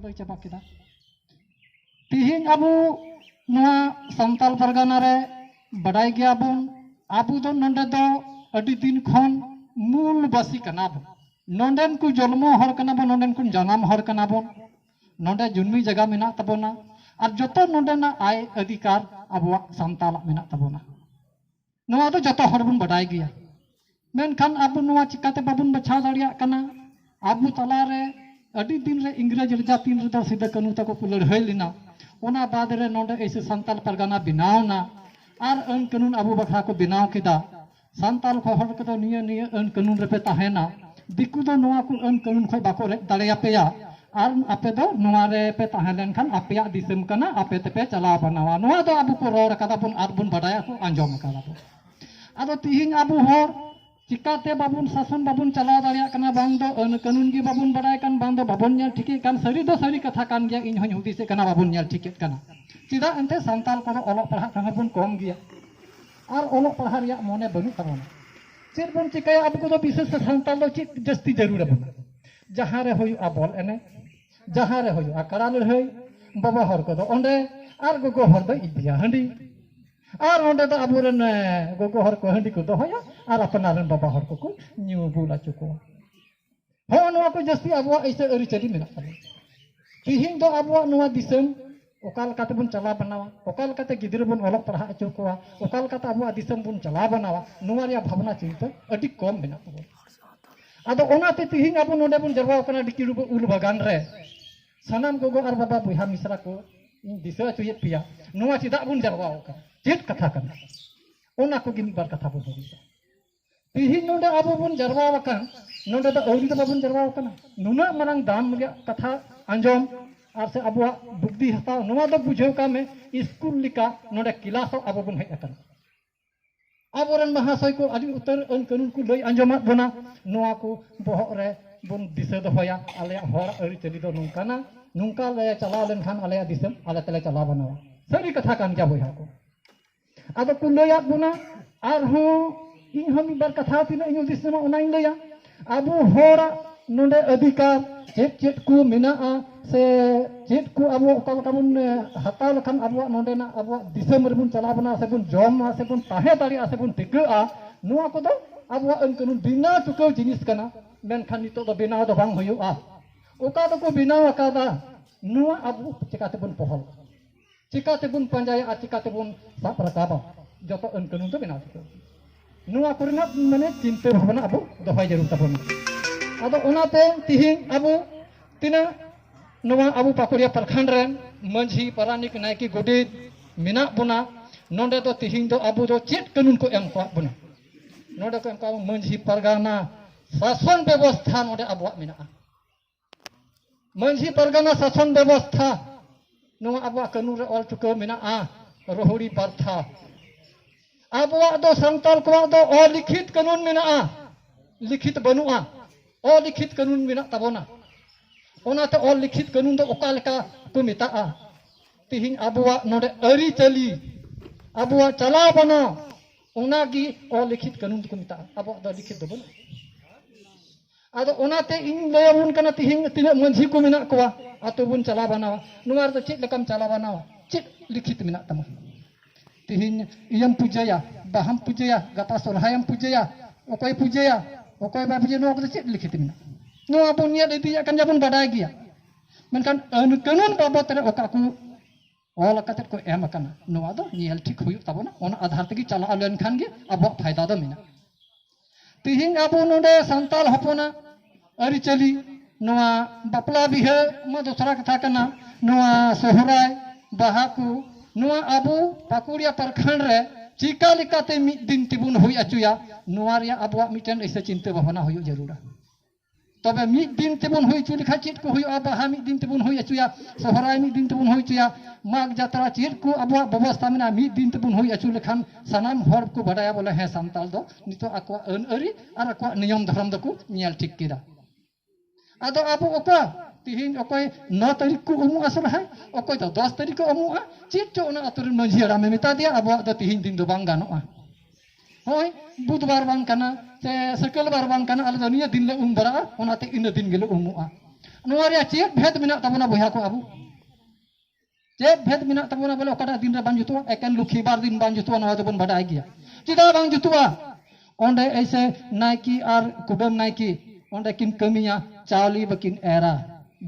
ᱞᱟᱹᱭ ᱪᱟᱵᱟ ᱠᱮᱫᱟ ᱛᱤᱦᱤᱧ ᱟᱵᱚ ᱱᱚᱣᱟ ᱥᱟᱱᱛᱟᱞ ᱯᱟᱨᱜᱟᱱᱟ ᱨᱮ ᱵᱟᱰᱟᱭ ᱜᱮᱭᱟᱵᱚᱱ ᱟᱵᱚ ᱫᱚ ᱱᱚᱰᱮ ᱫᱚ ᱟᱹᱰᱤ ᱫᱤᱱ ᱠᱷᱚᱱ ᱢᱩᱞ ᱵᱟᱥᱤ ᱠᱟᱱᱟ ᱵᱚᱱ ᱱᱚᱰᱮᱱ ᱠᱚ ᱡᱚᱱᱢᱚ ᱦᱚᱲ ᱠᱟᱱᱟ ᱵᱚᱱ ᱱᱚᱰᱮᱱ ᱠᱚ ᱡᱟᱱᱟᱢ ᱦᱚᱲ ᱠᱟᱱᱟ ᱵᱚᱱ ᱱᱚᱰᱮ ᱡᱩᱱᱢᱤ ᱡᱟᱭᱜᱟ ᱢᱮᱱᱟᱜ ᱛᱟᱵᱚᱱᱟ ᱟᱨ ᱡᱚᱛᱚ ᱱᱚᱰᱮᱱᱟᱜ ᱟᱭ ᱚᱫᱷᱤᱠᱟᱨ ᱟᱵᱚᱣᱟᱜ ᱥᱟᱱᱛᱟᱞᱟᱜ ᱢᱮᱱᱟᱜ ᱛᱟᱵᱚᱱᱟ ᱱᱚᱣᱟ ᱫᱚ ᱡᱚᱛᱚ ᱦᱚᱲ ᱵᱚᱱ ᱵᱟᱰᱟᱭ ᱜᱮᱭᱟ ᱢᱮᱱᱠᱷᱟᱱ ᱟᱵᱚ ᱱᱚᱣᱟ ᱪᱤᱠᱟᱹᱛᱮ ᱵᱟᱵᱚᱱ ᱵᱟᱪᱷᱟᱣ ᱫᱟᱲᱮᱭᱟᱜ ᱠᱟᱱᱟ ᱟᱵᱚ ᱛᱟᱞᱟᱨᱮ ᱟᱹᱰᱤ ᱫᱤᱱ ᱨᱮ ᱤᱝᱨᱮᱡᱽ ᱨᱟᱡᱟ ᱛᱤᱱ ᱨᱮᱫᱚ ᱥᱤᱫᱟᱹ ᱠᱟᱹᱱᱩ ᱛᱟᱠᱚ ᱠᱚ ᱞᱟᱹᱲᱦᱟᱹᱭ ᱞᱮᱱᱟ ᱚᱱᱟ ᱵᱟᱫ ᱨᱮ ᱱᱚᱰᱮ ᱮᱭᱥᱮ ᱥᱟᱱᱛᱟᱞ ᱯᱟᱨᱜᱟᱱᱟ ᱵᱮᱱᱟᱣᱱᱟ ᱟᱨ ᱟᱹᱱ ᱠᱟᱹᱱᱩᱱ ᱟᱵᱚ ᱵᱟᱠᱷᱨᱟ ᱠᱚ ᱵᱮᱱᱟᱣ ᱠᱮᱫᱟ ᱥᱟᱱᱛᱟᱞ ᱠᱚ ᱦᱚᱲ ᱠᱚᱫᱚ ᱱᱤᱭᱟᱹ ᱱᱤᱭᱟᱹ ᱟᱹᱱ ᱠᱟᱹᱱᱩᱱ ᱨᱮᱯᱮ ᱛᱟᱦᱮᱱᱟ ᱫᱤᱠᱩ ᱫᱚ ᱱᱚᱣᱟ ᱠᱚ ᱟᱹᱱ ᱠᱟᱹᱱᱩᱱ ᱠᱷᱚᱱ ᱵᱟᱠᱚ ᱨᱮᱡ ᱫᱟᱲᱮᱭᱟᱯᱮᱭᱟ ᱟᱨ ᱟᱯᱮ ᱫᱚ ᱱᱚᱣᱟ ᱨᱮ ᱯᱮ ᱛᱟᱦᱮᱸ ᱞᱮᱱᱠᱷᱟᱱ ᱟᱯᱮᱭᱟᱜ ᱫᱤᱥᱚᱢ ᱠᱟᱱᱟ ᱟᱯᱮ ᱛᱮᱯᱮ ᱪᱟᱞᱟᱣ ᱵᱟᱱᱟᱣᱟ ᱱᱚᱣᱟ ᱫᱚ ᱟᱵᱚ ᱠᱚ ᱨᱚᱲ ᱟᱠᱟᱫᱟ ᱵᱚᱱ ᱟᱨ ᱵᱚᱱ ᱵᱟᱰᱟᱭᱟ ᱠᱚ ᱟᱸᱡᱚᱢ ᱟᱠᱟᱫᱟ ᱵᱚᱱ ᱟᱫᱚ ᱛᱤᱦᱤᱧ ᱟᱵᱚ ᱦᱚᱲ ᱪᱤᱠᱟᱛᱮ ᱵᱟᱵᱚᱱ ᱥᱟᱥᱚᱱ ᱵᱟᱵᱚᱱ ᱪᱟᱞᱟᱣ ᱫᱟᱲᱮᱭᱟᱜ ᱠᱟᱱᱟ ᱵᱟᱝ ᱫᱚ ᱟᱹᱱ ᱠᱟᱹᱱᱩᱱ ᱜᱮ ᱵᱟᱵᱚᱱ ᱵᱟᱰᱟᱭ ᱠᱟᱱ ᱵᱟᱝ ᱫᱚ ᱵᱟᱵᱚᱱ ᱧᱮᱞ ᱴᱷᱤᱠᱮᱫ ᱠᱟᱱ ᱥᱟᱹᱨᱤ ᱫᱚ ᱥᱟᱹᱨᱤ ᱠᱟᱛᱷᱟ ᱠᱟᱱ ᱜᱮᱭᱟ ᱤᱧ ᱦᱚᱧ ᱦᱩᱫᱤᱥᱮᱫ ᱠᱟᱱᱟ ᱵᱟᱵᱚᱱ ᱧᱮᱞ ᱴᱷᱤᱠᱮᱫ ᱠᱟᱱᱟ ᱪᱮᱫᱟᱜ ᱮᱱᱛᱮ ᱥᱟᱱᱛᱟᱞ ᱠᱚᱫᱚ ᱚᱞᱚᱜ ᱯᱟᱲᱦᱟᱜ ᱠᱟᱱᱟ ᱵᱚᱱ ᱠᱚᱢ ᱜᱮᱭᱟ ᱟᱨ ᱚᱞᱚᱜ ᱯᱟᱲᱦᱟᱜ ᱨᱮᱭᱟᱜ ᱢᱚᱱᱮ ᱵᱟᱹᱱᱩᱜ ᱛᱟᱵᱚᱱᱟ ᱪᱮᱫ ᱵᱚᱱ ᱪᱤᱠᱟᱹᱭᱟ ᱟᱵᱚ ᱠᱚᱫᱚ ᱵᱤᱥᱮᱥ ᱛᱮ ᱥᱟᱱᱛᱟᱲ ᱫᱚ ᱪᱮᱫ ᱡᱟᱹᱥᱛᱤ ᱡᱟᱹᱨᱩᱲ ᱟᱵᱚᱱᱟ ᱡᱟᱦᱟᱸ ᱨᱮ ᱦᱩᱭᱩᱜᱼᱟ ᱵᱚᱞ ᱮᱱᱮᱡ ᱡᱟᱦᱟᱸ ᱨᱮ ᱦᱩᱭᱩᱜᱼᱟ ᱠᱟᱲᱟ ᱞᱟᱹᱲᱦᱟᱹᱭ ᱵᱟᱵᱟ ᱦᱚᱲ ᱠᱚᱫᱚ ᱚᱸᱰᱮ ᱟᱨ ᱜᱚᱜᱚ ᱦᱚᱲ ᱫᱚ ᱤᱫᱤᱭᱟ ᱦᱟᱺᱰᱤ ᱟᱨ ᱚᱸᱰᱮ ᱫᱚ ᱟᱵᱚᱨᱮᱱ ᱜᱚᱜᱚ ᱦᱚᱲ ᱠᱚ ᱦᱟᱺᱰᱤ ᱠᱚ ᱫᱚᱦᱚᱭᱟ ᱟᱨ ᱟᱯᱱᱟᱨ ᱨᱮᱱ ᱵᱟᱵᱟ ᱦᱚᱲ ᱠᱚᱠᱚ ᱧᱩ ᱵᱩᱞ ᱟᱪᱚ ᱠᱚᱣᱟ ᱦᱚᱸᱜᱼᱚ ᱱᱚᱣᱟ ᱠᱚ ᱡᱟᱹᱥᱛᱤ ᱟᱵᱚᱣᱟᱜ ᱤᱥᱟᱹ ᱟᱹᱨᱤᱪᱟᱹᱞᱤ ᱢᱮᱱᱟᱜ ᱛᱟᱵᱚᱱᱟ ᱛᱤᱦᱤᱧ ᱫᱚ ᱟᱵᱚᱣᱟᱜ ᱱᱚᱣᱟ ᱫᱤᱥᱚᱢ ᱚᱠᱟ ᱞᱮᱠᱟᱛᱮ ᱵᱚᱱ ᱪᱟᱞᱟᱣ ᱵᱟᱱᱟᱣᱟ ᱚᱠᱟ ᱞᱮᱠᱟᱛᱮ ᱜᱤᱫᱽᱨᱟᱹ ᱵᱚᱱ ᱚᱞᱚᱜ ᱯᱟᱲᱦᱟᱣ ᱦᱚᱪᱚ ᱠᱚᱣᱟ ᱚᱠᱟ ᱞᱮᱠᱟᱛᱮ ᱟᱵᱚᱣᱟᱜ ᱫᱤᱥᱚᱢ ᱵᱚᱱ ᱪᱟᱞᱟᱣ ᱵᱟᱱᱟᱣᱟ ᱱᱚᱣᱟ ᱨᱮᱭᱟᱜ ᱵᱷᱟᱵᱽᱱᱟ ᱪᱤᱱᱛᱟᱹ ᱟᱹᱰᱤ ᱠᱚᱢ ᱢᱮᱱᱟᱜ ᱛᱟᱵᱚᱱᱟ ᱟᱫᱚ ᱚᱱᱟᱛᱮ ᱛᱤᱦᱤᱧ ᱟᱵᱚ ᱱᱚᱰᱮ ᱵᱚᱱ ᱡᱟᱨᱣᱟ ᱟᱠᱟᱱᱟ ᱰᱤᱠᱤᱰᱩᱵᱩ ᱩᱞ ᱵᱟᱜᱟᱱ ᱨᱮ ᱥᱟᱱᱟᱢ ᱜᱚᱜᱚ ᱟᱨ ᱵᱟᱵᱟ ᱵᱚᱭᱦᱟ ᱢᱤᱥᱨᱟ ᱠᱚ ᱤᱧ ᱫᱤᱥᱟᱹ ᱦᱚᱪᱚᱭᱮᱫ ᱯᱮᱭᱟ ᱱᱚᱣᱟ ᱪᱮᱫᱟᱜ ᱵᱚᱱ ᱡᱟᱨᱣᱟ ᱟᱠᱟᱱᱟ ᱪᱮᱫ ᱠᱟᱛᱷᱟ ᱠᱟᱱᱟ ᱚᱱᱟ ᱠᱚᱜᱮ ᱢᱤᱫ ᱵᱟᱨ ᱠᱟᱛᱷᱟ ᱵᱚᱱ ᱦᱩᱫᱤᱥᱟ ᱛᱤᱦᱤᱧ ᱱᱚᱰᱮ ᱟᱵᱚ ᱵᱚᱱ ᱡᱟᱨᱣᱟ ᱟᱠᱟᱱ ᱱᱚᱰᱮ ᱫᱚ ᱟᱹᱣᱨᱤ ᱫᱚ ᱵᱟᱵᱚᱱ ᱡᱟᱨᱣᱟ ᱟᱠᱟᱱᱟ ᱱᱩᱱᱟᱹᱜ ᱢᱟᱨᱟᱝ ᱫᱟᱢ ᱨᱮᱭᱟᱜ ᱠᱟᱛᱷᱟ ᱟᱸᱡᱚᱢ ᱟᱨ ᱥᱮ ᱟᱵᱚᱣᱟᱜ ᱵᱩᱫᱽᱫᱷᱤ ᱦᱟᱛᱟᱣ ᱱᱚᱣᱟ ᱫᱚ ᱵᱩᱡᱷᱟᱹᱣ ᱠᱟᱜ ᱢᱮ ᱥᱠᱩᱞ ᱞᱮᱠᱟ ᱱᱚᱰᱮ ᱠᱞᱟᱥᱚᱜ ᱟᱵᱚ ᱵᱚᱱ ᱦᱮᱡ ᱟᱠᱟᱱᱟ ᱟᱵᱚᱨᱮᱱ ᱢᱟᱦᱟᱥᱚᱭ ᱠᱚ ᱟᱹᱰᱤ ᱩᱛᱟᱹᱨ ᱟᱹᱱ ᱠᱟᱹᱱᱩᱱ ᱠᱚ ᱞᱟᱹᱭ ᱟᱸᱡᱚᱢᱟᱫ ᱵᱚᱱᱟ ᱱᱚᱣᱟ ᱠᱚ ᱵᱚᱦᱚᱜ ᱨᱮ ᱵᱚᱱ ᱫᱤᱥᱟᱹ ᱫᱚᱦᱚᱭᱟ ᱟᱞᱮᱭᱟᱜ ᱦᱚᱲ ᱟᱹᱨᱤᱪᱟᱹᱞᱤ ᱫᱚ ᱱᱚᱝᱠᱟᱱᱟ ᱱᱚᱝᱠᱟ ᱞᱮ ᱪᱟᱞᱟᱣ ᱞᱮᱱᱠᱷᱟᱱ ᱟᱞᱮᱭᱟᱜ ᱫᱤᱥᱚᱢ ᱟᱞᱮ ᱛᱮᱞᱮ ᱪᱟᱞᱟᱣ ᱵᱟᱱᱟᱣᱟ ᱥᱟᱹᱨᱤ ᱠᱟᱛᱷᱟ ᱠᱟᱱ ᱜᱮᱭᱟ ᱵᱚᱭᱦᱟ ᱠᱚ ᱟᱫᱚ ᱠᱚ ᱞᱟᱹᱭᱟᱫ ᱵᱚᱱᱟ ᱟᱨᱦᱚᱸ ᱤᱧ ᱦᱚᱸ ᱢᱤᱫ ᱵᱟᱨ ᱠᱟᱛᱷᱟ ᱛᱤᱱᱟᱹᱜ ᱤᱧ ᱦᱩᱫᱤᱥ ᱧᱟᱢᱟ ᱚᱱᱟᱧ ᱞᱟᱹᱭᱟ ᱟᱵᱚ ᱦᱚᱲᱟᱜ ᱱᱚᱰᱮ ᱚᱫᱷᱤᱠᱟᱨ ᱪᱮᱫ ᱪᱮᱫ ᱠᱚ ᱢᱮᱱᱟᱜᱼᱟ ᱥᱮ ᱪᱮᱫ ᱠᱚ ᱟᱵᱚ ᱚᱠᱟ ᱞᱮᱠᱟ ᱵᱚᱱ ᱦᱟᱛᱟᱣ ᱞᱮᱠᱷᱟᱱ ᱟᱵᱚᱣᱟᱜ ᱱᱚᱰᱮᱱᱟᱜ ᱟᱵᱚᱣᱟᱜ ᱫᱤᱥᱚᱢ ᱨᱮᱵᱚᱱ ᱪᱟᱞᱟᱣ ᱵᱚᱱᱟ ᱥᱮ ᱵᱚᱱ ᱡᱚᱢᱟ ᱥᱮ ᱵᱚᱱ ᱛᱟᱦᱮᱸ ᱫᱟᱲᱮᱭᱟᱜᱼᱟ ᱥᱮ ᱵᱚᱱ ᱴᱤᱠᱟᱹᱜᱼᱟ ᱱᱚᱣᱟ ᱠᱚᱫᱚ ᱟᱵᱚᱣᱟᱜ ᱟᱹᱱ ᱠᱟᱹᱱᱩᱱ ᱵᱤᱱᱟ ᱪᱩᱠᱟᱹᱣ ᱡᱤᱱᱤᱥ ᱠᱟᱱᱟ ᱢᱮᱱᱠᱷᱟᱱ ᱱᱤᱛᱚᱜ ᱫᱚ ᱵᱮᱱᱟᱣ ᱫᱚ ᱵᱟᱝ ᱦᱩᱭᱩᱜᱼᱟ ᱚᱠᱟ ᱫᱚᱠᱚ ᱵᱮᱱᱟᱣ ᱟᱠᱟᱫᱟ ᱱᱚᱣᱟ ᱟᱵᱚ ᱪᱮᱠᱟᱛᱮᱵᱚᱱ ᱯᱚᱦᱚᱞ ᱪᱤᱠᱟ ᱛᱮᱵᱚᱱ ᱯᱟᱸᱡᱟᱭᱟ ᱟᱨ ᱪᱤᱠᱟ ᱛᱮᱵᱚᱱ ᱥᱟᱵ ᱨᱟᱠᱟᱵᱟ ᱡᱚᱛᱚ ᱟᱹᱱ ᱠᱟᱹᱱᱩᱱ ᱫᱚ ᱵᱮᱱᱟᱣ ᱴᱷᱤᱠᱟᱹ ᱱᱚᱣᱟ ᱠᱚᱨᱮᱱᱟᱜ ᱢᱟᱱᱮ ᱪᱤᱱᱛᱟᱹ ᱵᱷᱟᱵᱱᱟ ᱟᱵᱚ ᱫᱚᱦᱚᱭ ᱡᱟᱹᱨᱩᱲ ᱛᱟᱵᱚᱱᱟ ᱟᱫᱚ ᱚᱱᱟᱛᱮ ᱛᱤᱦᱤᱧ ᱟᱵᱚ ᱛᱤᱱᱟᱹᱜ ᱱᱚᱣᱟ ᱟᱵᱚ ᱯᱟᱠᱩᱲᱤᱭᱟ ᱯᱨᱚᱠᱷᱚᱸᱰ ᱨᱮᱱ ᱢᱟᱹᱡᱷᱤ ᱯᱟᱨᱟᱱᱤᱠ ᱱᱟᱭᱠᱮ ᱜᱚᱰᱮᱛ ᱢᱮᱱᱟᱜ ᱵᱚᱱᱟ ᱱᱚᱰᱮ ᱫᱚ ᱛᱤᱦᱤᱧ ᱫᱚ ᱟᱵᱚ ᱫᱚ ᱪᱮᱫ ᱠᱟᱹᱱᱩᱱ ᱠᱚ ᱮᱢ ᱠᱟᱜ ᱵᱚᱱᱟ ᱱᱚᱰᱮ ᱠᱚ ᱮᱢ ᱠᱟᱜ ᱢᱟᱹᱡᱷᱤ ᱯᱟᱨᱜᱟᱱᱟ ᱥᱟᱥᱚᱱ ᱵᱮᱵᱚᱥᱛᱷᱟ ᱱᱚᱰᱮ ᱟᱵᱚᱣᱟᱜ ᱢᱮᱱᱟᱜᱼᱟ ᱢᱟᱹᱡᱷᱤ ᱯᱟᱨᱜᱟᱱᱟ ᱥᱟᱥᱚᱱ ᱵᱮᱵᱚᱥᱛᱷᱟ ᱱᱚᱣᱟ ᱟᱵᱚᱣᱟᱜ ᱠᱟᱹᱱᱩᱱ ᱨᱮ ᱚᱞ ᱪᱩᱠᱟᱹᱣ ᱢᱮᱱᱟᱜᱼᱟ ᱨᱚᱦᱩᱲᱤ ᱯᱟᱨᱛᱷᱟ ᱟᱵᱚᱣᱟᱜ ᱫᱚ ᱥᱟᱱᱛᱟᱲ ᱠᱚᱣᱟᱜ ᱫᱚ ᱚᱞᱤᱠᱷᱤᱛ ᱠᱟᱹᱱᱩᱱ ᱢᱮᱱᱟᱜᱼᱟ ᱞᱤᱠᱷᱤᱛ ᱵᱟᱹᱱᱩᱜᱼᱟ ᱚᱞᱤᱠᱷᱤᱛ ᱠᱟᱹᱱᱩᱱ ᱢᱮᱱᱟᱜ ᱛᱟᱵᱚᱱᱟ ᱚᱱᱟᱛᱮ ᱚᱞ ᱞᱤᱠᱷᱤᱛ ᱠᱟᱹᱱᱩᱱ ᱫᱚ ᱚᱠᱟ ᱞᱮᱠᱟ ᱠᱚ ᱢᱮᱛᱟᱜᱼᱟ ᱛᱤᱦᱤᱧ ᱟᱵᱚᱣᱟᱜ ᱱᱚᱰᱮ ᱟᱹᱨᱤᱪᱟᱹᱞᱤ ᱟᱵᱚᱣᱟᱜ ᱪᱟᱞᱟᱣ ᱵᱟᱱᱟ ᱚᱱᱟᱜᱮ ᱚᱞᱤᱠᱷᱤᱛ ᱠᱟᱹᱱᱩᱱ ᱫᱚᱠᱚ ᱢᱮᱛᱟᱜᱼᱟ ᱟᱵᱚᱣᱟᱜ ᱫᱚ ᱞᱤᱠᱷᱤᱛ ᱫᱚ ᱵᱟᱹᱱᱩᱜᱼᱟ ᱟᱫᱚ ᱚᱱᱟᱛᱮ ᱤᱧ ᱞᱟᱹᱭ ᱟᱵᱚᱱ ᱠᱟᱱᱟ ᱛᱤᱦᱤᱧ ᱛᱤᱱᱟᱹᱜ ᱢᱟᱹᱡᱷᱤ ᱠᱚ ᱢᱮᱱᱟᱜ ᱠᱚᱣᱟ ᱟᱛᱳ ᱵᱚᱱ ᱪᱟᱞᱟᱣ ᱵᱟᱱᱟᱣᱟ ᱱᱚᱣᱟ ᱨᱮᱫᱚ ᱪᱮᱫ ᱞᱮᱠᱟᱢ ᱪᱟᱞᱟᱣ ᱵᱟᱱᱟᱣᱟ ᱪᱮᱫ ᱞᱤᱠᱷᱤᱛ ᱢᱮᱱᱟᱜ ᱛᱟᱢᱟ ᱛᱤᱦᱤᱧ ᱤᱭᱟᱹᱢ ᱯᱩᱡᱟᱹᱭᱟ ᱵᱟᱦᱟᱢ ᱯᱩᱡᱟᱹᱭᱟ ᱜᱟᱯᱟ ᱥᱚᱨᱦᱟᱭᱮᱢ ᱯᱩᱡᱟᱹᱭᱟ ᱚᱠᱚᱭ ᱯᱩᱡᱟᱹᱭᱟ ᱚᱠᱚᱭ ᱵᱟᱭ ᱯᱩᱡᱟᱹᱭᱟ ᱱᱚᱣᱟ ᱠᱚᱫᱚ ᱪᱮᱫ ᱞᱤᱠᱷᱤᱛ ᱢᱮᱱᱟᱜᱼᱟ ᱱᱚᱣᱟ ᱵᱚᱱ ᱧᱮᱞ ᱤᱫᱤᱭᱮᱫ ᱠᱟᱱ ᱜᱮᱭᱟ ᱵᱚᱱ ᱵᱟᱰᱟᱭ ᱜᱮᱭᱟ ᱢᱮᱱᱠᱷᱟᱱ ᱟᱹᱱ ᱠᱟᱹᱱᱩᱱ ᱵᱟᱵᱚᱫ ᱨᱮ ᱚᱠᱟ ᱠᱚ ᱚᱞ ᱠᱟᱛᱮ ᱠᱚ ᱮᱢ ᱟᱠᱟᱱᱟ ᱱᱚᱣᱟ ᱫᱚ ᱧᱮᱞ ᱴᱷᱤᱠ ᱦᱩᱭᱩᱜ ᱛᱟᱵᱚᱱᱟ ᱚᱱᱟ ᱟᱫᱷᱟᱨ ᱛᱮᱜᱮ ᱪᱟᱞᱟᱣ ᱞᱮᱱᱠᱷᱟᱱ ᱜᱮ ᱟᱵᱚᱣᱟᱜ ᱯᱷᱟᱭᱫᱟ ᱫᱚ ᱢᱮᱱᱟᱜᱼᱟ ᱛᱤᱦᱤᱧ ᱟᱵᱚ ᱱᱚᱰᱮ ᱥᱟᱱᱛᱟᱲ ᱦᱚᱯᱚᱱᱟᱜ ᱟᱹᱨᱤᱪᱟᱹᱞᱤ ᱱᱚᱣᱟ ᱵᱟᱯᱞᱟ ᱵᱤᱦᱟᱹ ᱢᱟ ᱫᱚᱥᱨᱟ ᱠᱟᱛᱷᱟ ᱠᱟᱱᱟ ᱱᱚᱣᱟ ᱥᱚᱦᱨᱟᱭ ᱵᱟᱦᱟ ᱠᱚ ᱱᱚᱣᱟ ᱟᱵᱚ ᱯᱟᱠᱩᱲᱤᱭᱟ ᱯᱨᱚᱠᱷᱚᱸᱰ ᱨᱮ ᱪᱤᱠᱟ ᱞᱮᱠᱟᱛᱮ ᱢᱤᱫ ᱫᱤᱱ ᱛᱮᱵᱚᱱ ᱦᱩᱭ ᱦᱚᱪᱚᱭᱟ ᱱᱚᱣᱟ ᱨᱮᱭᱟᱜ ᱟᱵᱚᱣᱟᱜ ᱢᱤᱫᱴᱮᱱ ᱮᱥᱮ ᱪᱤᱱᱛᱟᱹ ᱵᱷᱟᱵᱱᱟ ᱦᱩᱭᱩᱜ ᱡᱟᱹᱨᱩᱲᱟ ᱛᱚᱵᱮ ᱢᱤᱫ ᱫᱤᱱ ᱛᱮᱵᱚᱱ ᱦᱩᱭ ᱦᱚᱪᱚ ᱞᱮᱠᱷᱟᱱ ᱪᱮᱫ ᱠᱚ ᱦᱩᱭᱩᱜᱼᱟ ᱵᱟᱦᱟ ᱢᱤᱫ ᱫᱤᱱ ᱛᱮᱵᱚᱱ ᱦᱩᱭ ᱦᱚᱪᱚᱭᱟ ᱥᱚᱦᱨᱟᱭ ᱢᱤᱫ ᱫᱤᱱ ᱛᱮᱵᱚᱱ ᱦᱩᱭ ᱦᱚᱪᱚᱭᱟ ᱢᱟᱜᱽ ᱡᱟᱛᱨᱟ ᱪᱮᱫ ᱠᱚ ᱟᱵᱚᱣᱟᱜ ᱵᱮᱵᱚᱥᱛᱷᱟ ᱢᱮᱱᱟᱜᱼᱟ ᱢᱤᱫ ᱫᱤᱱ ᱛᱮᱵᱚᱱ ᱦᱩᱭ ᱦᱚᱪᱚ ᱞᱮᱠᱷᱟᱱ ᱥᱟᱱᱟᱢ ᱦᱚᱲ ᱠᱚ ᱵᱟᱰᱟᱭᱟ ᱵᱚᱞᱮ ᱦᱮᱸ ᱥᱟᱱᱛᱟᱲ ᱫᱚ ᱱᱤᱛᱚᱜ ᱟᱠᱚᱣᱟᱜ ᱟᱹᱱ ᱟᱹᱨᱤ ᱟᱨ ᱟᱠᱚᱣᱟᱜ ᱱᱤᱭᱚᱢ ᱫᱷᱚᱨᱚᱢ ᱫᱚᱠᱚ ᱧᱮᱞ ᱴᱷᱤᱠ ᱠᱮᱫᱟ ᱟᱫᱚ ᱟᱵᱚ ᱚᱠᱟ ᱛᱤᱦᱤᱧ ᱚᱠᱚᱭ ᱱᱚ ᱛᱟᱹᱨᱤᱠᱷ ᱠᱚ ᱩᱢᱩᱜᱼᱟ ᱥᱚᱨᱦᱟᱭ ᱚᱠᱚᱭ ᱫᱚ ᱫᱚᱥ ᱛᱟᱹᱨᱤᱠᱷ ᱠᱚ ᱩᱢᱩᱜᱼᱟ ᱪᱮᱫ ᱪᱚ ᱚᱱᱟ ᱟᱛᱳ ᱨᱮᱱ ᱢᱟᱺᱡᱷᱤ ᱦᱟᱲᱟᱢᱮ ᱢᱮᱛᱟ ᱫᱮᱭᱟ ᱟᱵᱚᱣᱟᱜ ᱫᱚ ᱛᱤᱦᱤᱧ ᱫᱤᱱ ᱫᱚ ᱵᱟᱝ ᱜᱟᱱᱚᱜᱼᱟ ᱦᱳᱭ ᱵᱩᱫᱷᱵᱟᱨ ᱵᱟᱝ ᱠᱟᱱᱟ ᱥᱮ ᱥᱟᱹᱠᱟᱹᱞ ᱵᱟᱨ ᱵᱟᱝ ᱠᱟᱱᱟ ᱟᱞᱮ ᱫᱚ ᱱᱤᱭᱟᱹ ᱫᱤᱱ ᱞᱮ ᱩᱢ ᱵᱟᱲᱟᱜᱼᱟ ᱚᱱᱟᱛᱮ ᱤᱱᱟᱹ ᱫᱤᱱ ᱜᱮᱞᱮ ᱩᱢᱩᱜᱼᱟ ᱱᱚᱣᱟ ᱨᱮᱭᱟᱜ ᱪᱮᱫ ᱵᱷᱮᱫ ᱢᱮᱱᱟᱜ ᱛᱟᱵᱚᱱᱟ ᱵᱚᱭᱦᱟ ᱠᱚ ᱟᱵᱚ ᱪᱮᱫ ᱵᱷᱮᱫ ᱢᱮᱱᱟᱜ ᱛᱟᱵᱚᱱᱟ ᱵᱚᱞᱮ ᱚᱠᱟᱴᱟᱜ ᱫᱤᱱ ᱨᱮ ᱵᱟᱝ ᱡᱩᱛᱩᱜᱼᱟ ᱮᱠᱮᱱ ᱞᱩᱠᱷᱤ ᱵᱟᱨ ᱫᱤᱱ ᱵᱟᱝ ᱡᱩᱛᱩᱜᱼᱟ ᱱᱚᱣᱟ ᱫᱚᱵᱚᱱ ᱵᱟᱰᱟᱭ ᱜᱮᱭᱟ ᱪᱮᱫᱟᱜ ᱵᱟᱝ ᱡᱩᱛᱩᱜᱼᱟ ᱚᱸᱰᱮ ᱮᱭᱥᱮ ᱱᱟᱭᱠᱤ ᱟᱨ ᱠᱩᱰᱟᱹᱢ ᱱᱟᱭᱠᱤ ᱚᱸᱰᱮ ᱠᱤᱱ ᱠᱟᱹᱢᱤᱭᱟ ᱪᱟᱣᱞᱤ ᱵᱟᱹᱠᱤᱱ ᱮᱨᱟ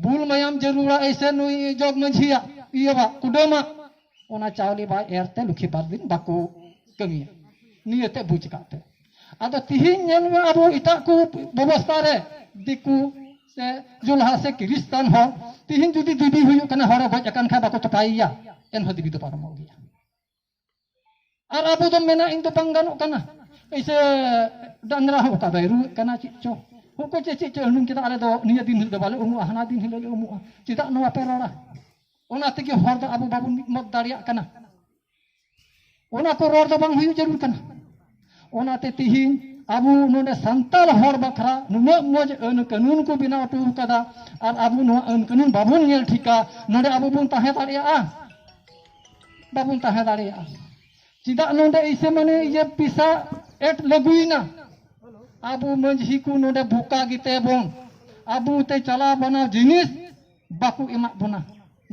ᱵᱩᱞ ᱢᱟᱭᱟᱢ ᱡᱟᱹᱨᱩᱲᱟ ᱮᱭᱥᱮ ᱱᱩᱭ ᱡᱚᱜᱽ ᱢᱟᱹᱡᱷᱤᱭᱟᱜ ᱤᱭᱟᱹᱣᱟᱜ ᱠᱩᱰᱟᱹᱢᱟᱜ ᱚᱱᱟ ᱪᱟᱣᱞᱮ ᱵᱟᱭ ᱮᱨ ᱛᱮ ᱞᱩᱠᱷᱤ ᱵᱟᱨ ᱫᱤᱱ ᱵᱟᱠᱚ ᱠᱟᱹᱢᱤᱭᱟ ᱱᱤᱭᱟᱹᱛᱮ ᱵᱩᱡᱽ ᱠᱟᱜ ᱯᱮ ᱟᱫᱚ ᱛᱤᱦᱤᱧ ᱧᱮᱞ ᱢᱮ ᱟᱵᱚ ᱮᱴᱟᱜ ᱠᱚ ᱵᱮᱵᱚᱥᱛᱟ ᱨᱮ ᱫᱤᱠᱩ ᱥᱮ ᱡᱩᱞᱦᱟ ᱥᱮ ᱠᱤᱨᱤᱥᱛᱟᱱ ᱦᱚᱲ ᱛᱤᱦᱤᱧ ᱡᱩᱫᱤ ᱫᱤᱵᱤ ᱦᱩᱭᱩᱜ ᱠᱟᱱᱟ ᱦᱚᱲᱮ ᱜᱚᱡ ᱟᱠᱟᱱ ᱠᱷᱟᱱ ᱵᱟᱠᱚ ᱛᱚᱯᱟᱭᱮᱭᱟ ᱮᱱᱦᱚᱸ ᱫᱤᱵᱤ ᱫᱚ ᱯᱟᱨᱚᱢᱚᱜ ᱜᱮᱭᱟ ᱟᱨ ᱟᱵᱚ ᱫᱚ ᱢᱮᱱᱟ ᱤᱧ ᱫᱚ ᱵᱟᱝ ᱜᱟᱱᱚᱜ ᱠᱟᱱᱟ ᱮᱭᱥᱮ ᱰᱟᱝᱨᱟ ᱦᱚᱸ ᱚᱠᱟ ᱫᱚᱭ ᱨᱩᱣᱟᱹᱜ ᱠᱟᱱᱟ ᱪᱮᱫ ᱪᱚ ᱩᱱᱠᱩ ᱪᱮᱫ ᱪᱮᱫ ᱪᱚ ᱟᱹᱱᱩᱢ ᱠᱮᱫᱟ ᱟᱞᱮ ᱫᱚ ᱱᱤᱭᱟᱹ ᱫᱤᱱ ᱦᱤᱞᱳᱜ ᱫᱚ ᱵᱟᱞᱮ ᱩᱢᱩᱜᱼᱟ ᱦᱟᱱᱟ ᱫᱤᱱ ᱦᱤᱞᱳᱜ ᱞᱮ ᱩᱢᱩᱜᱼᱟ ᱪᱮᱫᱟᱜ ᱱᱚᱣᱟ ᱯᱮ ᱨᱚᱲᱟ ᱚᱱᱟ ᱛᱮᱜᱮ ᱦᱚᱲ ᱫᱚ ᱟᱵᱚ ᱵᱟᱵᱚᱱ ᱢᱤᱫ ᱢᱚᱛ ᱫᱟᱲᱮᱭᱟᱜ ᱠᱟᱱᱟ ᱚᱱᱟ ᱠᱚ ᱨᱚᱲ ᱫᱚ ᱵᱟᱝ ᱦᱩᱭᱩᱜ ᱡᱟᱹᱨᱩᱲ ᱠᱟᱱᱟ ᱚᱱᱟᱛᱮ ᱛᱤᱦᱤᱧ ᱟᱵᱚ ᱱᱚᱰᱮ ᱥᱟᱱᱛᱟᱲ ᱦᱚᱲ ᱵᱟᱠᱷᱨᱟ ᱱᱩᱱᱟᱹᱜ ᱢᱚᱡᱽ ᱟᱹᱱ ᱠᱟᱹᱱᱩᱱ ᱠᱚ ᱵᱮᱱᱟᱣ ᱦᱚᱴᱚ ᱟᱠᱟᱫᱟ ᱟᱨ ᱟᱵᱚ ᱱᱚᱣᱟ ᱟᱹᱱ ᱠᱟᱹᱱᱩᱱ ᱵᱟᱵᱚᱱ ᱧᱮᱞ ᱴᱷᱤᱠᱟ ᱱᱚᱰᱮ ᱟᱵᱚ ᱵᱚᱱ ᱛᱟᱦᱮᱸ ᱫᱟᱲᱮᱭᱟᱜᱼᱟ ᱵᱟᱵᱚᱱ ᱛᱟᱦᱮᱸ ᱫᱟᱲᱮᱭᱟᱜᱼᱟ ᱪᱮᱫᱟᱜ ᱱᱚᱰᱮ ᱤᱥᱮ ᱢᱟᱱᱮ ᱤᱭᱟᱹ ᱯᱤᱥᱟ ᱮᱴ ᱞᱟᱹᱜᱩᱭᱮᱱᱟ ᱟᱵᱚ ᱢᱟᱺᱡᱷᱤ ᱠᱚ ᱱᱚᱰᱮ ᱵᱷᱚᱠᱟ ᱜᱮᱛᱮ ᱵᱚᱱ ᱟᱵᱚ ᱛᱮ ᱪᱟᱞᱟᱣ ᱵᱟᱱᱟᱣ ᱡᱤᱱᱤᱥ ᱵᱟᱠᱚ ᱮᱢᱟᱜ ᱵᱚᱱᱟ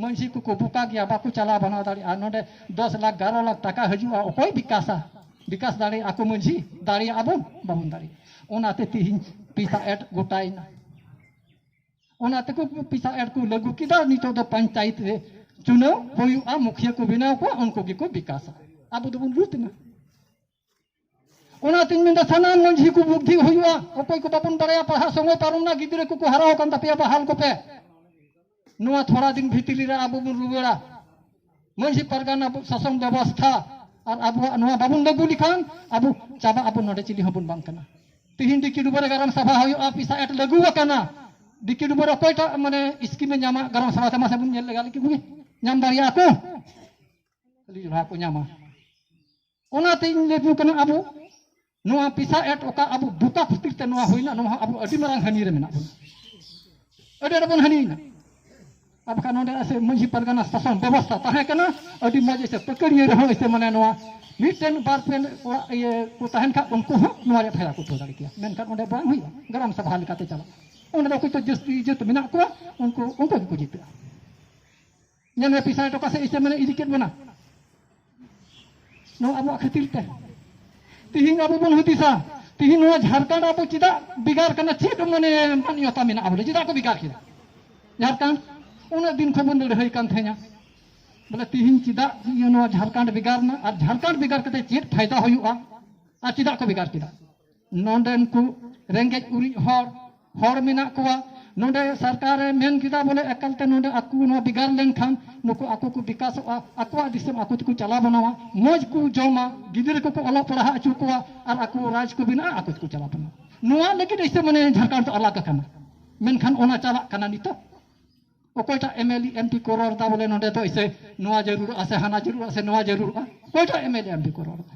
ᱢᱟᱺᱡᱷᱤ ᱠᱚᱠᱚ ᱵᱚᱠᱟ ᱜᱮᱭᱟ ᱵᱟᱠᱚ ᱪᱟᱞᱟᱣ ᱵᱟᱱᱟᱣ ᱫᱟᱲᱮᱭᱟᱜᱼᱟ ᱱᱚᱰᱮ ᱫᱚᱥ ᱞᱟᱠᱷ ᱜᱟᱨᱚ ᱞᱟᱠᱷ ᱴᱟᱠᱟ ᱦᱤᱡᱩᱜᱼᱟ ᱚᱠᱚᱭ ᱵᱤᱠᱟᱥᱟ ᱵᱤᱠᱟᱥ ᱫᱟᱲᱮᱭᱟᱜᱼᱟ ᱠᱚ ᱢᱟᱺᱡᱷᱤ ᱫᱟᱲᱮᱭᱟᱜᱼᱟ ᱵᱚᱱ ᱵᱟᱵᱚᱱ ᱫᱟᱲᱮᱭᱟᱜᱼᱟ ᱚᱱᱟᱛᱮ ᱛᱮᱦᱮᱧ ᱯᱤᱥᱟ ᱮᱴ ᱜᱚᱴᱟᱭᱮᱱᱟ ᱚᱱᱟ ᱛᱮᱠᱚ ᱯᱤᱥᱟ ᱮᱰ ᱠᱚ ᱞᱟᱹᱜᱩ ᱠᱮᱫᱟ ᱱᱤᱛᱚᱜ ᱫᱚ ᱯᱚᱧᱪᱟᱭᱮᱛ ᱨᱮ ᱪᱩᱱᱟᱹᱣ ᱦᱩᱭᱩᱜᱼᱟ ᱢᱩᱠᱷᱤᱭᱟᱹ ᱠᱚ ᱵᱮᱱᱟᱣ ᱠᱚᱣᱟ ᱩᱱᱠᱩ ᱜᱮᱠᱚ ᱵᱤᱠᱟᱥᱟ ᱟᱵᱚ ᱫᱚᱵᱚᱱ ᱞᱩᱴ ᱮᱱᱟ ᱚᱱᱟᱛᱤᱧ ᱢᱮᱱᱫᱟ ᱥᱟᱱᱟᱢ ᱢᱟᱺᱡᱷᱤ ᱠᱚ ᱵᱩᱫᱽᱫᱷᱤ ᱦᱩᱭᱩᱜᱼᱟ ᱚᱠᱚᱭ ᱠᱚ ᱵᱟᱵᱚᱱ ᱵᱟᱲᱟᱭᱟ ᱯᱟᱲᱦᱟᱜ ᱥᱚᱢᱚᱭ ᱯᱟᱨᱚᱢᱱᱟ ᱜᱤᱫᱽᱨᱟᱹ ᱠᱚᱠᱚ ᱦᱟᱨᱟᱣ ᱟᱠᱟᱱ ᱛᱟᱯᱮᱭᱟ ᱵᱟᱦᱟᱞ ᱠᱚᱯᱮ ᱱᱚᱣᱟ ᱛᱷᱚᱲᱟ ᱫᱤᱱ ᱵᱷᱤᱛᱨᱤ ᱨᱮ ᱟᱵᱚ ᱵᱚᱱ ᱨᱩᱣᱟᱹᱲᱟ ᱢᱟᱺᱡᱷᱤ ᱯᱟᱨᱜᱟᱱᱟ ᱟᱵᱚ ᱥᱟᱥᱚᱱ ᱵᱮᱵᱚᱥᱛᱷᱟ ᱟᱨ ᱟᱵᱚᱣᱟᱜ ᱱᱚᱣᱟ ᱵᱟᱵᱚᱱ ᱞᱟᱹᱜᱩ ᱞᱮᱠᱷᱟᱱ ᱟᱵᱚ ᱪᱟᱵᱟ ᱟᱵᱚ ᱱᱚᱰᱮ ᱪᱤᱞᱤ ᱦᱚᱸᱵᱚᱱ ᱵᱟᱝ ᱠᱟᱱᱟ ᱛᱤᱦᱤᱧ ᱰᱤᱠᱤ ᱰᱩᱵᱟᱹ ᱨᱮ ᱜᱟᱨᱟᱢ ᱥᱟᱵᱷᱟ ᱦᱩᱭᱩᱜᱼᱟ ᱯᱤᱥᱟ ᱮᱴ ᱞᱟᱹᱜᱩ ᱟᱠᱟᱱᱟ ᱰᱤᱠᱤ ᱰᱩᱵᱟᱹ ᱨᱮ ᱚᱠᱚᱭᱴᱟᱜ ᱢᱟᱱᱮ ᱥᱠᱤᱢᱮ ᱧᱟᱢᱟ ᱜᱟᱨᱟᱢ ᱥᱟᱵᱷᱟ ᱛᱮ ᱢᱟᱥᱮ ᱵᱚᱱ ᱧᱮᱞ ᱞᱮᱜᱟ ᱞᱮᱠᱤ ᱵᱩᱜᱤ ᱧᱟᱢ ᱫᱟᱲᱮᱭᱟᱜᱼᱟ ᱠᱚ ᱠᱷᱟᱹᱞᱤ ᱡᱚᱲᱟ ᱠᱚ ᱧᱟᱢᱟ ᱚᱱᱟᱛᱮ ᱤᱧ ᱞᱟᱹᱭ ᱠᱟᱱᱟ ᱟᱵᱚ ᱱᱚᱣᱟ ᱯᱤᱥᱟ ᱮᱴ ᱚᱠᱟ ᱟᱵᱚ ᱵᱩᱠᱟ ᱠᱷᱟᱹᱛᱤᱨ ᱛᱮ ᱱᱚᱣᱟ ᱦᱩᱭᱱᱟ ᱱᱚᱣᱟ ᱦᱚᱸ ᱟᱵᱚ ᱟᱹᱰᱤ ᱢᱟᱨᱟᱝ ᱦᱟᱹᱱᱤ ᱨᱮ ᱢᱮᱱᱟᱜ ᱵᱚᱱᱟ ᱟᱹᱰᱤ ᱟᱸᱴ ᱵᱚᱱ ᱦᱟᱹᱱᱤᱭᱮᱱᱟ ᱟᱨ ᱵᱟᱠᱷᱟᱱ ᱱᱚᱰᱮ ᱮᱥᱮ ᱢᱟᱹᱡᱷᱤ ᱯᱟᱨᱜᱟᱱᱟ ᱥᱟᱥᱚᱱ ᱵᱮᱵᱚᱥᱛᱷᱟ ᱛᱟᱦᱮᱸ ᱠᱟᱱᱟ ᱟᱹᱰᱤ ᱢᱚᱡᱽ ᱮᱥᱮ ᱯᱟᱹᱠᱟᱹᱲᱤᱭᱟᱹ ᱨᱮᱦᱚᱸ ᱮᱥᱮ ᱢᱟᱱᱮ ᱱᱚᱣᱟ ᱢᱤᱫᱴᱮᱱ ᱵᱟᱨ ᱯᱮ ᱚᱲᱟᱜ ᱤᱭᱟᱹ ᱠᱚ ᱛᱟᱦᱮᱱ ᱠᱷᱟᱱ ᱩᱱᱠᱩ ᱦᱚᱸ ᱱᱚᱣᱟ ᱨᱮ ᱯᱷᱟᱭᱫᱟ ᱠᱚ ᱩᱴᱷᱟᱹᱣ ᱫᱟᱲᱮ ᱠᱮᱭᱟ ᱢᱮᱱᱠᱷᱟᱱ ᱚᱸᱰᱮ ᱵᱟᱝ ᱦᱩᱭᱩᱜᱼᱟ ᱜᱨᱟᱢ ᱥᱚᱵᱷᱟ ᱞᱮᱠᱟᱛᱮ ᱪᱟᱞᱟᱜᱼᱟ ᱚᱸᱰᱮ ᱫᱚ ᱚᱠᱚᱭ ᱠᱚ ᱡᱟᱹᱥᱛᱤ ᱡᱟᱹᱛ ᱢᱮᱱᱟᱜ ᱠᱚᱣᱟ ᱩᱱᱠᱩ ᱩᱱᱠᱩ ᱜᱮᱠᱚ ᱡᱤᱛᱟᱹᱜᱼᱟ ᱧᱮᱞ ᱢᱮ ᱯᱤᱥᱟᱭ ᱴᱚᱠᱟ ᱥᱮ ᱤᱥᱮ ᱢᱟᱱᱮ ᱤᱫᱤ ᱠᱮᱫ ᱵᱚᱱᱟ ᱱᱚᱣᱟ ᱟᱵᱚᱣᱟᱜ ᱠᱷᱟᱹᱛᱤᱨ ᱛᱮ ᱛᱤᱦᱤᱧ ᱟᱵᱚ ᱵᱚᱱ ᱦᱩᱫᱤᱥᱟ ᱛᱤᱦᱤᱧ ᱱᱚᱣᱟ ᱡᱷᱟᱲᱠᱷᱚᱸᱰ ᱟᱵᱚ ᱪᱮᱫᱟᱜ ᱵᱷᱮᱜᱟᱨ ᱠᱟᱱᱟ ᱪᱮᱫ ᱢᱟᱱᱮ ᱢᱟᱱᱭᱚᱛᱟ ᱢᱮᱱᱟᱜᱼᱟ ᱵᱚᱞᱮ ᱪᱮᱫᱟᱜ ᱠᱚ ᱵᱷᱮᱜᱟᱨ ᱠᱮᱫᱟ ᱡᱷᱟᱲᱠᱷᱚᱸᱰ ᱩᱱᱟᱹᱜ ᱫᱤᱱ ᱠᱷᱚᱱ ᱵᱚᱱ ᱞᱟᱹᱲᱦᱟᱹᱭ ᱠᱟᱱ ᱛᱟᱦᱮᱸᱱᱟ ᱵᱚᱞᱮ ᱛᱤᱦᱤᱧ ᱪᱮᱫᱟᱜ ᱱᱚᱣᱟ ᱡᱷᱟᱲᱠᱷᱚᱸᱰ ᱵᱷᱮᱜᱟᱨ ᱮᱱᱟ ᱟᱨ ᱡᱷᱟᱲᱠᱷᱚᱸᱰ ᱵᱷᱮᱜᱟᱨ ᱠᱟᱛᱮ ᱪᱮᱫ ᱯᱷᱟᱭᱫᱟ ᱦᱩᱭᱩᱜᱼᱟ ᱟᱨ ᱪᱮᱫᱟᱜ ᱠᱚ ᱵᱷᱮᱜᱟᱨ ᱠᱮᱫᱟ ᱱᱚᱰᱮᱱ ᱠᱚ ᱨᱮᱸᱜᱮᱡ ᱩᱨᱤᱡ ᱦᱚᱲ ᱦᱚᱲ ᱢᱮᱱᱟᱜ ᱠᱚᱣᱟ ᱱᱚᱰᱮ ᱥᱚᱨᱠᱟᱨᱮ ᱢᱮᱱ ᱠᱮᱫᱟ ᱵᱚᱞᱮ ᱮᱠᱟᱞ ᱛᱮ ᱱᱚᱰᱮ ᱟᱠᱚ ᱱᱚᱣᱟ ᱵᱷᱮᱜᱟᱨ ᱞᱮᱱᱠᱷᱟᱱ ᱱᱩᱠᱩ ᱟᱠᱚ ᱠᱚ ᱵᱤᱠᱟᱥᱚᱜᱼᱟ ᱟᱠᱚᱣᱟᱜ ᱫᱤᱥᱚᱢ ᱟᱠᱚ ᱛᱮᱠᱚ ᱪᱟᱞᱟᱣ ᱵᱮᱱᱟᱣᱟ ᱢᱚᱡᱽ ᱠᱚ ᱡᱚᱢᱟ ᱜᱤᱫᱽᱨᱟᱹ ᱠᱚᱠᱚ ᱚᱞᱚᱜ ᱯᱟᱲᱦᱟᱣ ᱦᱚᱪᱚ ᱠᱚᱣᱟ ᱟᱨ ᱟᱠᱚ ᱨᱟᱡᱽ ᱠᱚ ᱵᱮᱱᱟᱜᱼᱟ ᱟᱠᱚ ᱛᱮᱠᱚ ᱪᱟᱞᱟᱣ ᱵᱮᱱᱟᱣᱟ ᱱᱚᱣᱟ ᱞᱟᱹᱜᱤᱫ ᱮᱭᱥᱮ ᱢᱟᱱᱮ ᱡᱷᱟᱲᱠᱷᱚᱸᱰ ᱫᱚ ᱟᱞᱟᱜᱽ ᱟᱠᱟᱱᱟ ᱢᱮᱱᱠᱷᱟᱱ ᱚᱱᱟ ᱪᱟᱞᱟᱜ ᱠᱟᱱᱟ ᱱᱤᱛᱚᱜ ᱚᱠᱚᱭᱴᱟᱜ ᱮᱢ ᱮᱞ ᱮᱢ ᱯᱤ ᱠᱚ ᱨᱚᱲ ᱮᱫᱟ ᱵᱚᱞᱮ ᱱᱚᱰᱮ ᱫᱚ ᱮᱭᱥᱮ ᱱᱚᱣᱟ ᱡᱟᱹᱨᱩᱲᱚᱜᱼᱟ ᱥᱮ ᱦᱟᱱᱟ ᱡᱟᱹᱨᱩᱲᱚᱜᱼᱟ ᱥᱮ ᱱᱚᱣᱟ ᱡᱟᱹᱨᱩᱲᱚᱜᱼᱟ ᱚᱠᱚᱭᱴᱟᱜ ᱮᱢ ᱮᱞ ᱮᱢ ᱯᱤ ᱠᱚ ᱨᱚᱲ ᱮᱫᱟ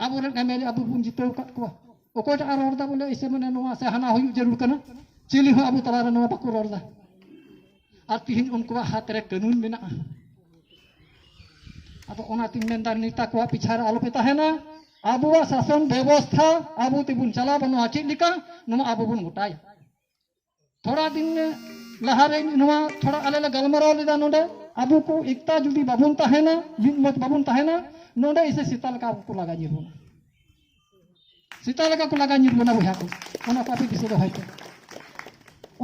ᱟᱵᱚ ᱨᱮᱱ ᱮᱢᱮᱞᱮ ᱟᱵᱚ ᱵᱚᱱ ᱡᱤᱛᱟᱹᱣ ᱟᱠᱟᱫ ᱠᱚᱣᱟ ᱚᱠᱚᱭᱴᱟᱜ ᱨᱚᱲ ᱮᱫᱟ ᱵᱚᱞᱮ ᱮᱥᱮ ᱢᱟᱱᱮ ᱱᱚᱣᱟ ᱥᱮ ᱦᱟᱱᱟ ᱦᱩᱭᱩᱜ ᱡᱟᱹᱨᱩᱲ ᱠᱟᱱᱟ ᱪᱤᱞᱤ ᱦᱚᱸ ᱟᱵᱚ ᱛᱟᱞᱟᱨᱮ ᱱᱚᱣᱟ ᱵᱟᱠᱚ ᱨᱚᱲ ᱮᱫᱟ ᱟᱨ ᱛᱤᱦᱤᱧ ᱩᱱᱠᱩᱣᱟᱜ ᱦᱟᱛ ᱨᱮ ᱠᱟᱹᱱᱩᱱ ᱢᱮᱱᱟᱜᱼᱟ ᱟᱫᱚ ᱚᱱᱟᱛᱤᱧ ᱢᱮᱱᱫᱟ ᱱᱮᱛᱟ ᱠᱚᱣᱟᱜ ᱯᱤᱪᱷᱟ ᱨᱮ ᱟᱞᱚᱯᱮ ᱛᱟᱦᱮᱱᱟ ᱟᱵᱚᱣᱟᱜ ᱥᱟᱥᱚᱱ ᱵᱮᱵᱚᱥᱛᱷᱟ ᱟᱵᱚ ᱛᱮᱵᱚᱱ ᱪᱟᱞᱟᱣ ᱵᱟᱹᱱᱩᱜᱼᱟ ᱪᱮᱫ ᱞᱮᱠᱟ ᱱᱚᱣᱟ ᱟᱵᱚ ᱵᱚᱱ ᱜᱚᱴᱟᱭᱟ ᱛᱷᱚᱲᱟ ᱫᱤᱱ ᱞᱟᱦᱟᱨᱮ ᱱᱚᱣᱟ ᱛᱷᱚᱲᱟ ᱟᱞᱮ ᱞᱮ ᱜᱟᱞᱢᱟᱨᱟᱣ ᱞᱮᱫᱟ ᱱᱚᱰᱮ ᱟᱵᱚ ᱠᱚ ᱮᱠᱛᱟ ᱡᱩᱫᱤ ᱵᱟᱵᱚᱱ ᱛᱟᱦᱮᱱᱟ ᱢᱤᱫ ᱢᱚᱛ ᱵᱟᱵᱚᱱ ᱛᱟᱦᱮᱱᱟ ᱱᱚᱰᱮ ᱤᱥᱮ ᱥᱮᱛᱟ ᱞᱮᱠᱟ ᱠᱚ ᱞᱟᱜᱟ ᱧᱤᱨ ᱵᱚᱱᱟ ᱥᱮᱛᱟ ᱞᱮᱠᱟ ᱠᱚ ᱞᱟᱜᱟ ᱧᱤᱨ ᱵᱚᱱᱟ ᱵᱚᱭᱦᱟ ᱠᱚ ᱚᱱᱟ ᱠᱚ ᱟᱯᱮ ᱫᱤᱥᱟᱹ ᱫᱚᱦᱚᱭ ᱯᱮ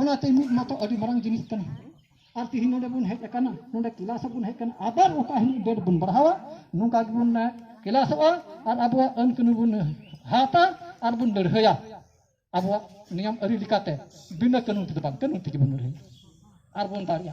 ᱚᱱᱟᱛᱮ ᱢᱤᱫ ᱢᱚᱛᱚ ᱟᱹᱰᱤ ᱢᱟᱨᱟᱝ ᱡᱤᱱᱤᱥ ᱠᱟᱱᱟ ᱟᱨ ᱛᱤᱦᱤᱧ ᱱᱚᱰᱮ ᱵᱚᱱ ᱦᱮᱡ ᱟᱠᱟᱱᱟ ᱱᱚᱰᱮ ᱠᱮᱞᱟᱥ ᱵᱚᱱ ᱦᱮᱡ ᱟᱠᱟᱱᱟ ᱟᱵᱟᱨ ᱚᱠᱟ ᱦᱤᱞᱳᱜ ᱰᱮᱴ ᱵᱚᱱ ᱵᱟᱲᱦᱟᱣᱟ ᱱᱚᱝᱠᱟ ᱜᱮᱵᱚᱱ ᱠᱮᱞᱟᱥᱚᱜᱼᱟ ᱟᱨ ᱟᱵᱚᱣᱟᱜ ᱟᱹᱱ ᱠᱟᱹᱱᱩᱱ ᱵᱚᱱ ᱦᱟᱛᱟ ᱟᱨ ᱵᱚᱱ ᱞᱟᱹᱲᱦᱟᱹᱭᱟ ᱟᱵᱚᱣᱟᱜ ᱱᱤᱭᱚᱢ ᱟᱹᱨᱤ ᱞᱮᱠᱟᱛᱮ ᱵᱤᱱᱟᱹ ᱠᱟᱹᱱᱩᱱ ᱛᱮᱫᱚ ᱵᱟᱝ ᱠᱟᱹᱱᱩᱱ ᱛᱮᱜᱮ ᱵᱚᱱ ᱞᱟᱹᱲᱦᱟᱹᱭᱟ ᱟᱨᱵᱚᱱ ᱫᱟᱲᱮᱭᱟᱜᱼᱟ